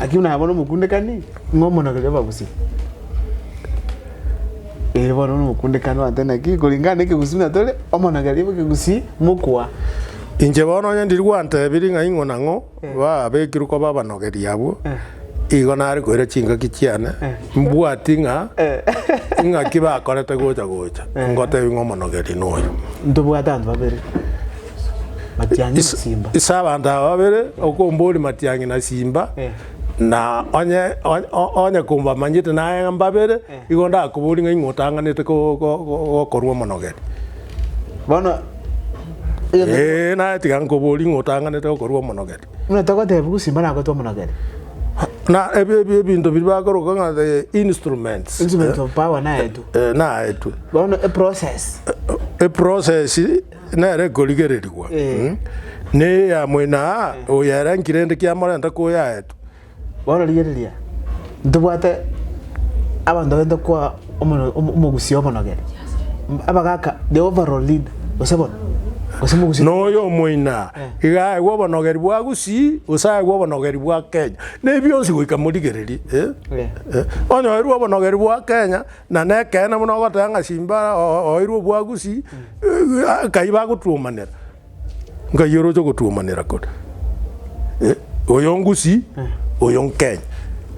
Lakini buna bono omokundekani ng'a omonagoria obagusii. Ee bono buna omokundekani ogoteba naki koringana na ekegusii buna tore, omonageria bw'ekegusii mokoa. Inche bono onye ndiri gwantebirie ng'a ing'o na ng'o babekirwe koba abanogeri abwo, igo nare koira chingaki chiane, mbwati ng'a ing'aki bakorete gocha gocha, ngotebie ng'a omonogeri noyo. Ntobwate abanto babere. Matiang'i na Simba. Ase abanto aba babere okomboria Matiang'i na Simba, Eh. na onye onye- o- onye kombamanyete naye ng'a mbabere, Eh. igo ndakoboria ng'a ing'o otang'anete ko- ko- ko- gokorwa omonogeni. Bono egento Ee, naye tiga nkoborie ing'o otang'anete gokorwa omonogeni. buna togoteba ng'a Simba nagoetwe omonogeni. Na ebi- ebi- ebinto biria bakoroka ng'a the instruments. Instrument of power naetwe. Eh, naetwe. Bono eprocess. Eprocess nere ekorigererigwa neya moino aa oyo ere nkirende kiamorenta koyaetwa. Bono rigereria, ntobwate abanto barenta koa omo- omo- omogusii omonogene. M- Abagaka, the overall leader, gose bono, gose omogusii. Noyo omoina iga aegwe obonogeri bwa gusii gose aegwe obonogeri bwa kenya ne bionsi goika morigererie eh? Eh. Eh, onyoerwe obonogeri bwa kenya Na nekeene buna ogoteba ng'a Simba oeirwe obwagusi, nkai bagotuomanera? Nkai oroche ogotuomanera kore? Eh, oyo ongusi, oyo nkenye.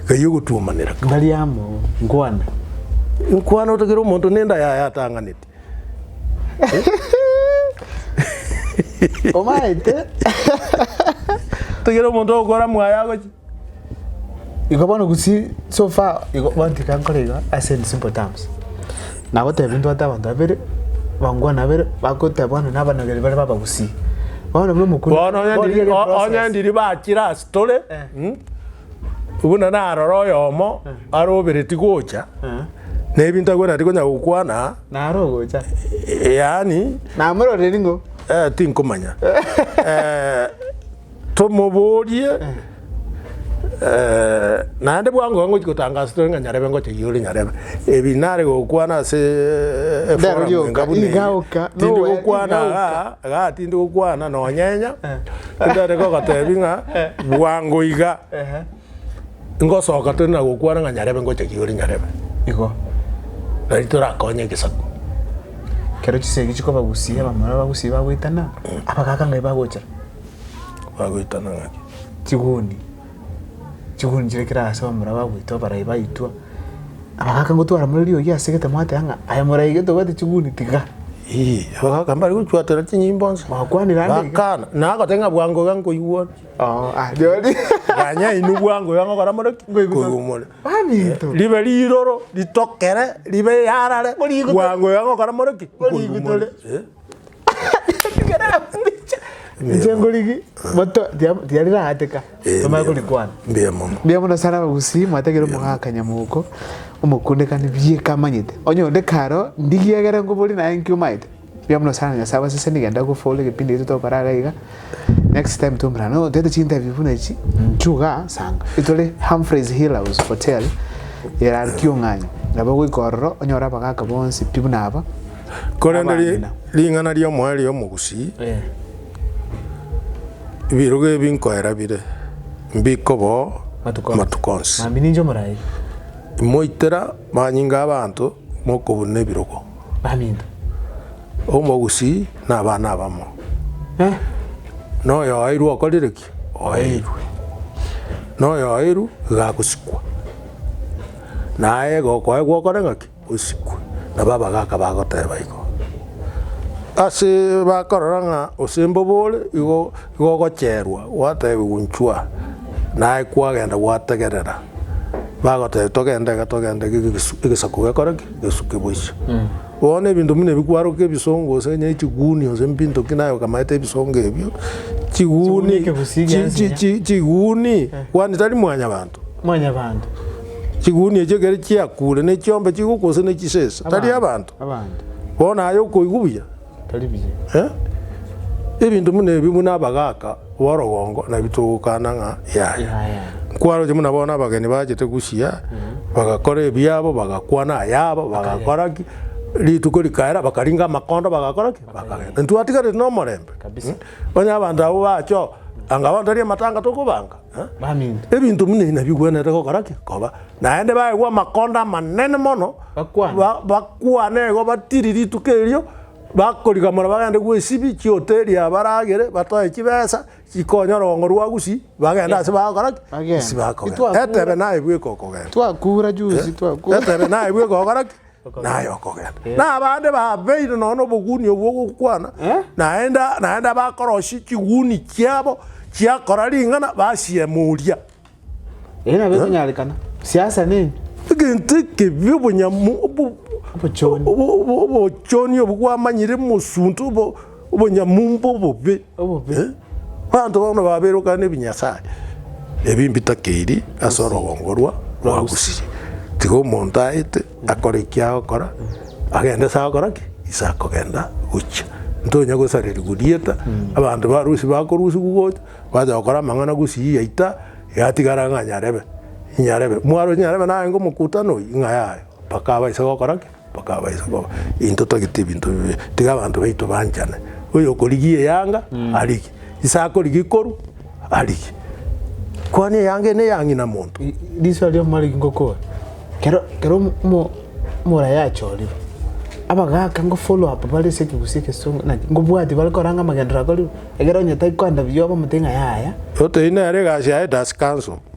Nkai ogotuomanera kore? Ndari amo, nkwane. Nkwane otogere omonto nende ayaye atang'aneti. Omaete. Tigera omonto ogokora mwaye agochi. Igo bono gusi so far igo bono tika nkore igo ase in simple terms. Nagotebia ntwate abanto babere bangwana babere bagoteba bono na abanogeri bare ba abagusii. Bono buna omokunda. Bono onye bono ndiri- ere o- onye process. ndiri bachire ase tore. Eh. Mm. Buna narora oyomo are obereti gocha, na ebinto akwenerete tikonya gokwana, Naro ogocha. eh, yaani Namororeri ng'o? Eh, tinkomanya Eh, tomoborie eh, naende bwango iga ngochi gotangasa tore ng'a nyarebe ngocha iga ore nyarebe ebi nare gokwana ase eh, Ndero forum rioka, enga buna eye. igaoka, tindi nowe, gokwana igaoka. igaa igaa tindi gokwana nonyenya Tindare gogotebi ng'a bwango iga Ehe. ngosoka tore na gokwana ng'a nyarebe ngocha Kigori nyarebe. Igo. Nari torakonye egesaku. Kero chisegi chikobagusia bamura bagusie bagoitana, abagaaka ng'ai bagochera? Bagoitana ng'aki? Chiguni. chigoonichire kera aase bamura bagwetwa abarai baitwa, abagaaka gotwara more riogi asegete mwateba ng'a aye morai gete obwate chiguni tiga. Eeh, abagaaka mbare gochuatera chinyimbo inse. Bakwanire ande iga. Bakana, nagoteba ng'a bwango iga nkoigwori. Oo, ah, riori. Ganya inwe bwango iga ngokora more ki? Nkoigwa more. Baminto. Ribe riroro, ritokere, ribe yarare, Kori igo to- bwango iga ngokora more ki? Kori igo tore. Eh. Echengorigi moto tia- tiari raateka Eh, tomanye mbuya- korikwana mbuya mono mbuya mono sana abagusii mwatagire omogaka nyamoko omokundekani bieka amanyete onye onde karo ndigie egere nkobori naye nki omaete mbuya mono sana nyasae abasese nigenda gofora egepindi gete tokora iga iga next time twomorana nonya otete chinterview buna echi inchuo igaa sanga itore Humphreys hill house hotel eraria kiong'anyo nabo ogoika ororo onyore abagaka bonsi pi buna aba Korende ri- Abamina. ring'ana ri'omoerio omogusii Eh. birogo ebi nkoera bire mbiko bo Matuko. matuko onsi. Mambia ninche omorai. Moitera manyinga abanto mokobuna ebirogo. Bamino. Omogusii na abana abamo. Eh. Na oyo oeirwe okorire ki? Oeirwe. Na oyo oeiru iga agosikwa. Naye iga okoegwa okore ng'aki? osikwe. Nabo abagaaka bagoteeba igo. Ase bakorora ng'a osembe obo ore, igo igo ogocherwa, gwateebiwa inchwa, naye kwagenda gwategerera, bagotebia togende iga togende iga egesu egesaku gekore ki? Gesuke boiso. Bono ebinto buna ebi kwarokia ebisongo gose onye chigunia gose mbinto ki naye okamaete ebisongo ebio, chiguni Chiguni ekegusii chia chi- chi- ensinyo. chi- chiguni, kwani tari mwanyabanto. Mwanyabanto. Chiguni echio ekero chiakure ne chiombe chigo gose ne chisesa, tari abanto? Abanto. Bono aye okoigwa buya? Tari buya. Eh? Ebinto buna ebi buna abagaka borogongo nabio togokana ng'a yaya. Yaya. Nkwaroche buna bono abageni bachete gochia, bagakora ebiabo, bagakwana ayabo, bagakora ki, rituko rikaera bakaringa amakondo bagakora ki? Bakagenda. Intwatigareti nomorembe? Kabisa. Onye abanto abwo bacha oo, anga bono tari amatanga tokobanga? baminto. Ebinto buna ebi nabigwenerete gokora ki? Koba. Naende baigwa amakonda amanene mono, Bakwane. ba- bakwane igo batiri rituko erio, bakorigamora bagende gw'esibi chiota eria baragere, batoe chibesa chikonya orogongo rwa Gusii, bagende ase bagokora ki? Bagende. Ase bagokogenda. Titwakura. Etebe naye bweka okogenda. Twakura juzi, twakura. Etebe naye bweka okogora ki? naye okogenda. Na abande babeire nonya nobogunia obwo ogokwana, naende naende abakorosia chiguni chiabo chiakora ring'ana basieme oria. Erio nabo ekonyarekana siasa nini? Egento ekebi obonyamo obo- Obochoni. obo- obo- obochoni obwo bwamanyire mosunte obo- obonyamumba obobe, Obobe. eh, abanto bono baberokana ebinyasae ebi mbitakeiri ase orogongo rwa rwa Gusii. Tiga omonto aete akore eki agokora, agende ase agokora ki? Ase akogenda gochia. Ntonya gosarerigwa rieta, abanto ba Gusii bakorusigwa gocha, bacha gokora amang'ana Gusii yaita, yatigara ng'a Nyarebe, Nyarebe. Mwaro Nyarebe narenge omokutano oyio, ng'a yaye, mpaka abase gokora ki? Bakabaisa koba, Intwe togete ebinto bibe, tiga abanto baito banchane. Oyokorigia eyanga, arigie, ise akorigia ikoru, arigie. Kwani eyanga eye neya ng'ina monto? Riso ria Mariki ngokoa kero kero omo- omo- omora yachorire abagaka ngo follow up bare ase ekegusii egesongo naki ngobwatia bare koranga amagenderero akorire ekero onye tari koenda buya obe omotebie ng'a yaya. Otebi nere egasi yaye das council.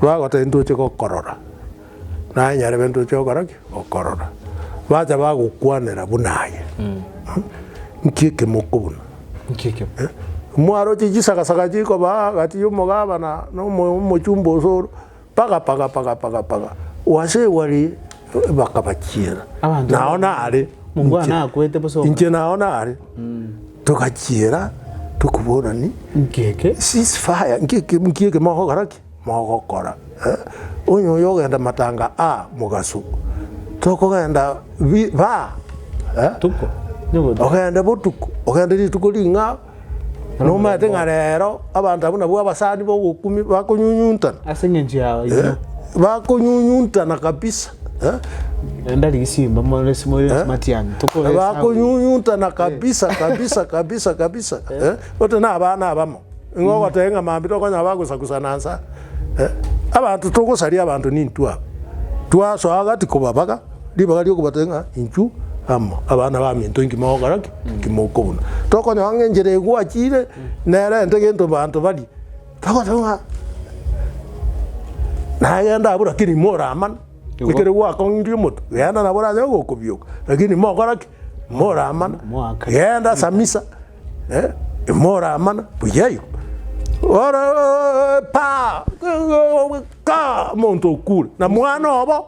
Bagoteba, Ntoche gokorora. Naye nyarebe, Ntoche gokora ki? Gokorora. Bacha bagokwanera buna aye. Nki ekemoko buna? Nki ekemo? Eh, Mwaroche chisagasaga chikobaa gati y'omogabana na omo- omochumba osoro, paga paga paga paga paga, wase wari bakabachiera. Abanto Nao nare. Mungu Inche- anakwete bosa oka- Inche nao nare. Togachiera tokoborani nkeke cease fire nkeke nkeke mogokora ki mogokora eh? onye oyo ogenda matanga a mogaso tokogenda bi ba eh? tuko nyobotu ogende botuko ogende rituko ring'ao nomanyete ng'a rero abanto abwo nabwo abasani bogokumi bakonyunyuntana ase engencho yao inwe bakonyunyuntana kabisa Naende ari risimba more simore Eh? matiani na tokoresa bakonyunyuntana kabisa kabisa kabisa kabisa eh? bote na abana abamo ing'o ogotee ng'a mambi tokonya bagosagusana nsa eh? abanto togosaria abanto nintu aba twasoa gati kobabaga ribaga riokobatee ng'a inchu amo abana baminto inki mogokora ki inki mokobuna tokonyora ng'a enchera egwachire nerente gento banto bari Agoteba ng'a nagende abwo lakini moramana Igo. ekero gwakong'ire omotu genda nabo oranyare gokobioka lakini mokora ki moramana Moaka. genda ase amisa eh, moramana buya igo Oro- pa ka omonto okure na mwana obo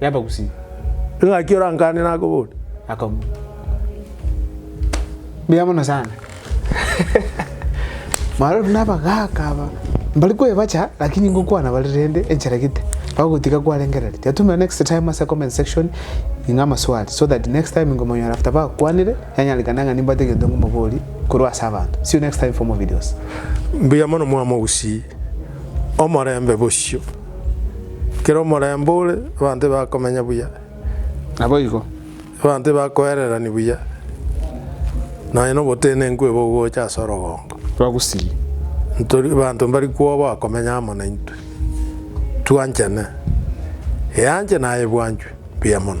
y'abagusii. Ning'aki orankane nakobore? Akabua. Mbuya mono sana. Maro nabagaka aba mbari kwebacha lakini ngokwana bari rende enchera gete bagotiga kwarengereri tiatumira next time ase comment section ing'a amaswali so that next time ngomonyora after bakwanire yanyarekana ng'a nimbate egento ngomobori korwa ase abanto see you next time for more videos. Mbuya mono mwamogusii. Omorembe bosio. Ekero omorembe ore, abanto tibakomenya buya. Naboigo. Abanto tibakoererani buya, nonya nobotenenku ebe ogocha ase orogongo. Twagusiri. Ntori abanto mbari kwoba bakomenya amo naintwe. Twanchane. Eanche naye ebwanchwe mbuya mono.